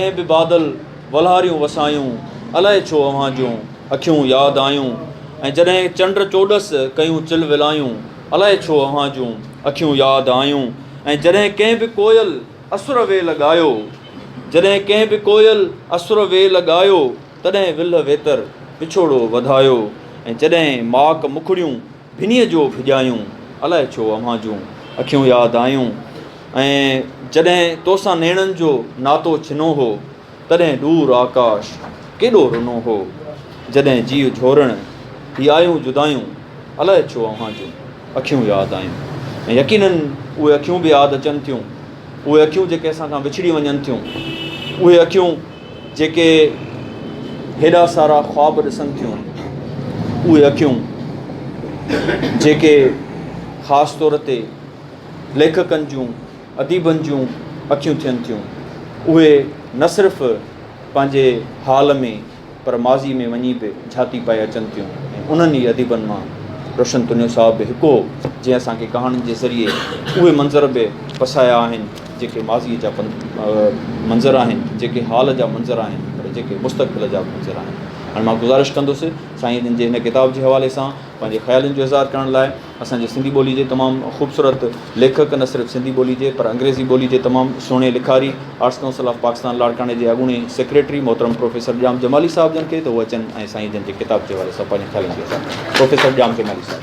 ڪنهن به بادل ولهاريون وسايون، الائي ڇو اوهان جون اکيون ياد آيون ۽ جڏهن چنڊ چوڏس ڪيون چل ولايون، الائي ڇو اوهان جون اکيون ياد آيون ۽ جڏهن ڪنهن به ڪوئل اسر ويل ڳايو، جڏهن ڪنهن به ڪوئل اسر ويل ڳايو، تڏهن ولهه ويتر وڇوڙو وڌايو ۽ جڏهن ماڪ مکڙيون. ڀنيء جو ڀڄايون، الائي ڇو اوهان جون اکيون ياد آيون ۽ جڏهن تو سان نيڻن جو ناتو ڇنو هو، تڏهن ڏور آڪاش ڪيڏو رنو هو، جڏهن جيء جهورڻ هي آيون جدايون، الائي ڇو اوهان جون اکيون ياد آيون ۽ يقينن اهي اکيون به ياد اچن ٿيون، اهي اکيون جيڪي اسان کان وڇڙي وڃن ٿيون، اهي اکيون. جيڪي هيڏا سارا خواب ڏسن ٿيون، اهي اکيون جيڪي خاص طور تي ليکڪن جون، اديبن جون اکيون ٿين ٿيون، اهي نه صرف پنهنجي حال ۾ پر ماضي ۾ وڃي به جهاتي پائي اچن ٿيون ۽ انهن ئي اديبن مان روشن تنيو صاحب به هڪ هو، جنهن اسان کي ڪهاڻين جي ذريعي اهي منظر به پسايا آهن. جيڪي ماضيء جا منظر آهن، جيڪي حال جا منظر آهن پر جيڪي مستقبل جا به منظر آهن. هاڻي مان گذارش ڪندس سائين جن جي هن ڪتاب جي حوالي سان پنهنجي خيالن جو اظهار ڪرڻ لاء اسان جي سنڌي ٻولي جي تمام خوبصورت ليکڪ نه صرف سنڌي ٻولي جي پر انگريزي ٻولي جي تمام سهڻي لکاري آرٽس ڪائونسل آف پاڪستان لاڙڪاڻي جي اڳوڻي سيڪريٽري محترم پروفيسر ڄام جمالي صاحب جن کي ته هو اچن ۽ سائين جن جي ڪتاب جي حوالي سان پنهنجي خيالن جو اظهار ڪن پروفيسر ڄام جمالي صاحب.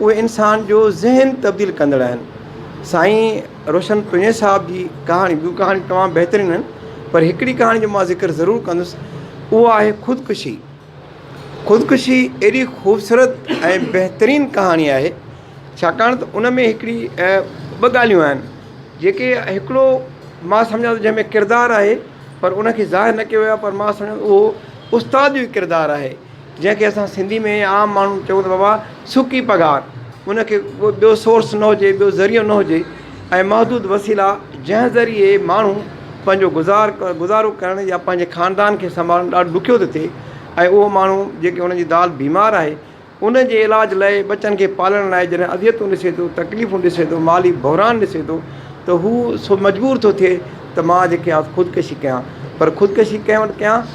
اهي انسان جو ذهن تبديل ڪندڙ آهن. سائين روشن پنهونجي صاحب جي ڪهاڻي ٻيون ڪهاڻيون تمام بهترين آهن پر هڪڙي ڪهاڻي جو مان ذڪر ضرور ڪندس اهو آهي خودڪشي. خودڪشي ايڏي خوبصورت ۽ بهترين ڪهاڻي آهي ڇاڪاڻ ته ان ۾ هڪڙي ٻه ڳالهيون آهن جيڪي هڪڙو مان سمجهان ٿو جنهن ۾ ڪردار آهي پر ان کي ظاهر نه ڪيو ويو آهي پر مان سمجهان ٿو اهو استاد جو ڪردار آهي. جنهن کي اسان سنڌي ۾ عام ماڻهو چئون ته بابا سڪي پگهار ان کي ڪو ٻيو سورس نه هجي ٻيو ذريعو نه هجي ۽ محدود وسيلا جنهن ذريعي ماڻهو پنهنجو گذار گذارو ڪرڻ يا پنهنجي خاندان کي سنڀالڻ ڏاڍو ڏکيو ٿو ٿئي ۽ اهو ماڻهو جيڪي ان جي زال بيمار آهي ان جي علاج لاء ٻچن کي پالڻ لاء جڏهن اذيتون ڏسي ٿو تڪليفون ڏسي ٿو مالي بحران ڏسي ٿو ته هو سو مجبور ٿو ٿئي ته مان جيڪي آ خودڪشي ڪيان پر خودڪشي ڪنهن وٽ ڪيان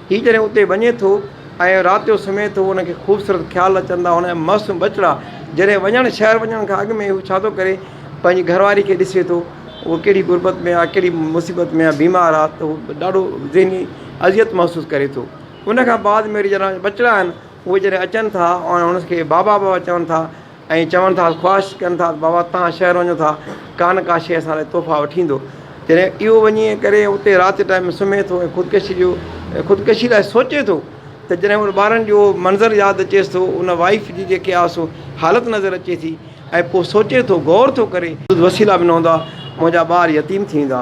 هي جڏهن اتي وڃي ٿو ۽ رات جو سمهي ٿو، هن کي خوبصورت خيال اچن ٿا، هن جا معصوم ٻچڙا جڏهن وڃڻ شهر وڃڻ کان اڳ ۾ هو ڇا ٿو ڪري پنهنجي گهر واري کي ڏسي ٿو هو ڪهڙي غربت ۾ آهي ڪهڙي مصيبت ۾ آهي بيمار آهي ته هو ڏاڍو ذهني اذيت محسوس ڪري ٿو ان کان بعد ۾ وري جڏهن ٻچڙا آهن اهي جڏهن اچن ٿا ۽ هن کي بابا بابا چون ٿا ائين چون ٿا، خواهش ڪن ٿا ته بابا تان شهر وڃون ٿا، ڪا نه ڪا شيء اسان لاء تحفا وٺي ايندو. جڏهن اهو وڃي ڪري اتي رات جي ٽائيم سمهي ٿو ۽ خودڪشي جو خودڪشي لاء سوچي ٿو ته جڏهن ان ٻارن جو اهو منظر ياد اچيس ٿو، ان وائيف جي جيڪي آهي سو حالت نظر اچي ٿي ۽ پوء سوچي ٿو، غور ٿو ڪري. وسيلا به نه هوندا، منهنجا ٻار يتيم ٿي ويندا.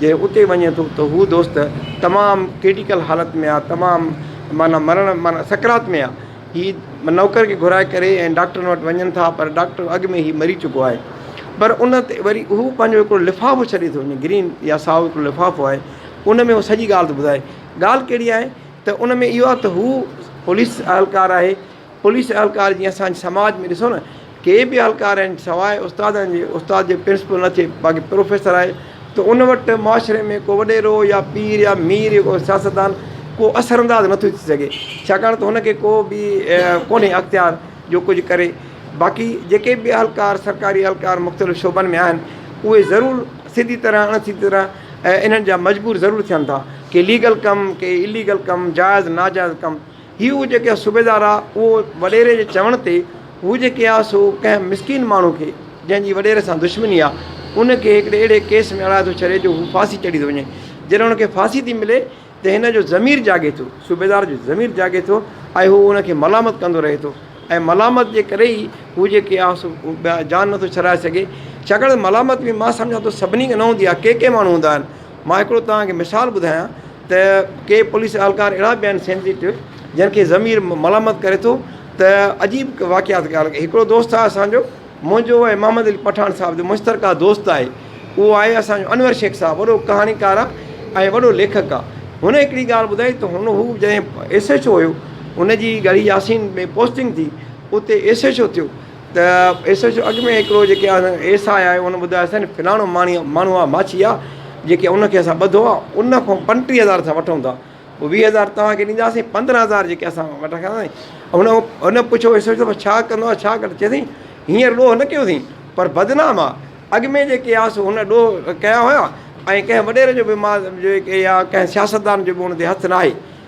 جڏهن اتي وڃي ٿو ته هو دوست تمام ڪرٽيڪل حالت ۾ آهي تمام معنيٰ مرڻ معنيٰ سڪرات ۾ آهي هي نوڪر کي گهرائي ڪري ۽ ڊاڪٽرن وٽ وڃن ٿا پر ڊاڪٽر اڳ ۾ هي مري چڪو آهي پر ان تي وري هو پنهنجو هڪڙو لفافو ڇڏي ٿو وڃي گرين يا سائو هڪڙو لفافو آهي ان ۾ هو سڄي ڳالهه ٿو ٻڌائي ڳالهه ڪهڙي آهي ته ان ۾ اهو آهي ته هو پوليس اهلڪار آهي پوليس اهلڪار جيئن اسان جي سماج ۾ ڏسو نه ڪي به اهلڪار آهن سواء استادن جي استاد جي پرنسپل نه ٿئي باقي پروفيسر آهي ته ان وٽ معاشري ۾ ڪو وڏيرو يا پير يا مير يا ڪو سياستدان ڪو اثر انداز نه ٿو ٿي سگهي ڇاڪاڻ ته هن کي ڪو به ڪونهي اختيار جو ڪجهه ڪري باقي جيڪي به اهلڪار سرڪاري اهلڪار مختلف شعبن ۾ آهن اهي ضرور سڌي طرح اڻ سڌي طرح انهن جا مجبور ضرور ٿين ٿا ڪي ليگل ڪم ڪي اليگل ڪم جائز ناجائز ڪم هي هو جيڪي آ صوبيدار آ اهو وڏيري جي چوڻ تي هو جيڪي آ سو ڪنهن مسڪين ماڻهو کي جنهن جي وڏيري سان دشمني آ ان کي هڪڙي اهڙي ڪيس ۾ اڻائي ٿو ڇڏي جو هو ڦاسي چڙهي ٿو وڃي جڏهن ان کي ڦاسي ٿي ملي ته هن جو ضمير جاڳي ٿو صوبيدار جو ضمير جاڳي ٿو ۽ هو ان کي ملامت ڪندو رهي ٿو ۽ ملامت جي ڪري ئي هو جيڪي آ سو جان نٿو ڇڏائي سگهي ڇاڪاڻ ته ملامت ۾ مان سمجهان ٿو سڀني کي نه هوندي آ ڪي ڪي ماڻهو هوندا آهن مان هڪڙو توهان کي مثال ٻڌايان ته ڪي پوليس اهلڪار اهڙا به آهن سينسيٽو جن کي ضمير ملامت ڪري ٿو ته عجيب واقعا ٿي ڳالهه هڪڙو دوست آهي اسانجو منهنجو ۽ محمد علي پٺاڻ صاحب جو مشترڪه دوست آهي اهو آهي اسانجو انور شيخ صاحب وڏو ڪهاڻيڪار آهي ۽ وڏو ليکڪ آهي هن هڪڙي ڳالهه ٻڌائي ته هن هو جڏهن ايس ايڇ او هيو هن جي ڳڙهي ياسين ۾ پوسٽنگ ٿي اتي ايس ايڇ او ٿيو ته ايس ايڇ او اڳ ۾ هڪڙو جيڪي آ ايس آء آيو ان ٻڌايو سين فلاڻو ماڻي ماڻهو آ ماڇي آ جيڪي ان کي اسان ٻڌو آ ان کان پنٽيهه هزار اسان وٺون ٿا پوء ويهه هزار توهان کي ڏينداسين پندرهن هزار جيڪي اسان وٽان کڻندا ائين ان هو ان پڇيو ايس ايڇ او ڇا ڪندو آ ڇا ڪندو چيسين هينئر ڏوهه نه ڪيوسين پر بدنام آ اڳ ۾ جيڪي آ سو هن ڏوهه ڪيا هيا ۽ ڪنهن وڏيري جو بي مال جيڪي آ ڪنهن سياستدان جو به ان تي هٿ ناهي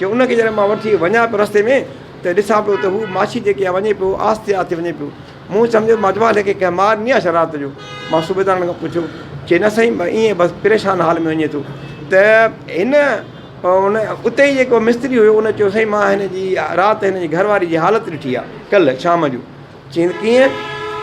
جو ان کي جڏهن مان وٺي وڃان پيو رستي ۾ ته ڏسان پيو ته هو ماشي جيڪي آهي وڃي پيو آهستي آهستي وڃي پيو مون سمجهيو مان جمال کي ڪنهن مار ڏني آهي ڇا رات جو مان صوبيدارن کان پڇيو چي نه سائين مان ائين بس پريشان حال ۾ وڃي ٿو ته هن ان اتي ئي جيڪو مستري هيو ان چيو سائين مان هن جي رات هن جي گهر واري جي حالت ڏٺي آهي ڪلهه شام جو چين ڪيئن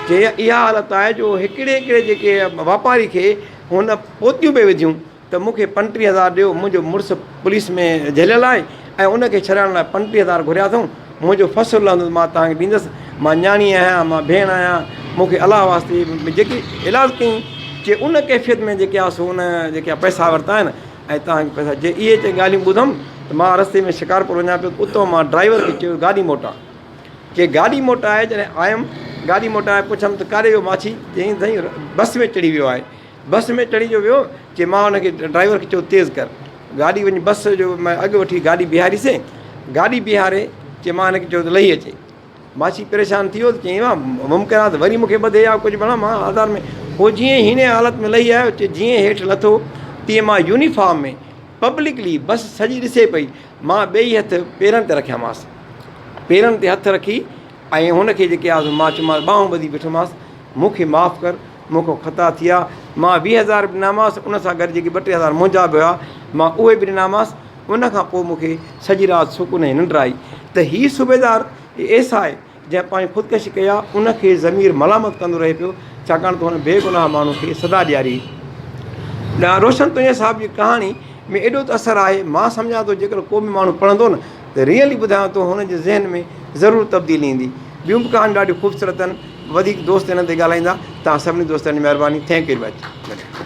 چي اها حالت آهي جو هڪڙي هڪڙي جيڪي واپاري کي هن پوتيون پئي وڌيون ته مون کي پنٽيهه هزار ڏيو، منهنجو مڙس پوليس ۾ جهليل آهي ۽ ان کي ڇڏائڻ لاء پنٽيهه هزار گهريا اٿئون، منهنجو فصل لهندو ته مان توهان کي ڏيندس، مان نياڻي آهيان، مان ڀيڻ آهيان، مون کي الله واسطي جيڪي علاج ڪيائين، چي ان ڪيفيت ۾ جيڪي آ سو ان جيڪي پئسا ورتا آهن ۽ توهان کي پئسا جي اهي چي ڳالهيون ٻڌم ته مان رستي ۾ شڪارپور وڃان پيو ته اتئون مان ڊرائيور کي چيو گاڏي موٽاء، چي گاڏي موٽائي جڏهن آيم، گاڏي موٽائي پڇم ته ڪاڏي ويو ماڇي، چيائين سائين بس ۾ چڙهي ويو آهي، بس ۾ چڙهي جو ويو چي مان ان کي ڊرائيور کي چيو تيز ڪر گاڏي وڃي بس جو مان اڳ وٺي گاڏي بيهاري سي گاڏي بيهاري چي مان ان کي چيو ته لهي اچي ماشي پريشان ٿي ويو چيائين وا ممڪن آ ته وري مونکي ٻڌي يا ڪجهه بڻا مان آزار ۾ هو جيئن هينئين حالت ۾ لهي آيو چي جيئن هيٺ لٿو تيئن مان يونيفارم ۾ پبلڪلي بس سڄي ڏسي پئي مان ٻئي هٿ پيرن تي رکيا ماس پيرن تي هٿ رکي ۽ هن کي جيڪي آ سو مان چيو ماس ٻانهون ٻڌي بيٺو ماس مونکي معاف ڪر مون کان خطا ٿيا، مان ويهه هزار به ڏنامانس، ان سان گڏ جيڪي ٻه ٽي هزار منهنجا به هئا، مان اهي به ڏنامانس، ان کان پوء مون کي سڄي رات سڪون ۽ ننڊ آئي ته هي صوبيدار ايس آء جنهن پنهنجي خودڪشي ڪئي آ، ان کي ضمير ملامت ڪندو رهي پيو، ڇاڪاڻ ته هن بيگناهه ماڻهو کي سزا ڏياري هئي. ڏانهن روشن تونجهه صاحب جي ڪهاڻي ۾ ايڏو ته اثر آهي، مان سمجهان ٿو جيڪڏهن ڪو به ماڻهو پڙهندو نه ته ريئلي ٻڌايان ٿو هن جي ذهن ۾ ضرور تبديلي ايندي. ٻيون به ڪهاڻيون ڏاڍيون خوبصورت آهن. وڌيڪ دوست انهن تي ڳالهائيندا توهان سڀني دوستن جي مهرباني ٿينڪ ويري مچ.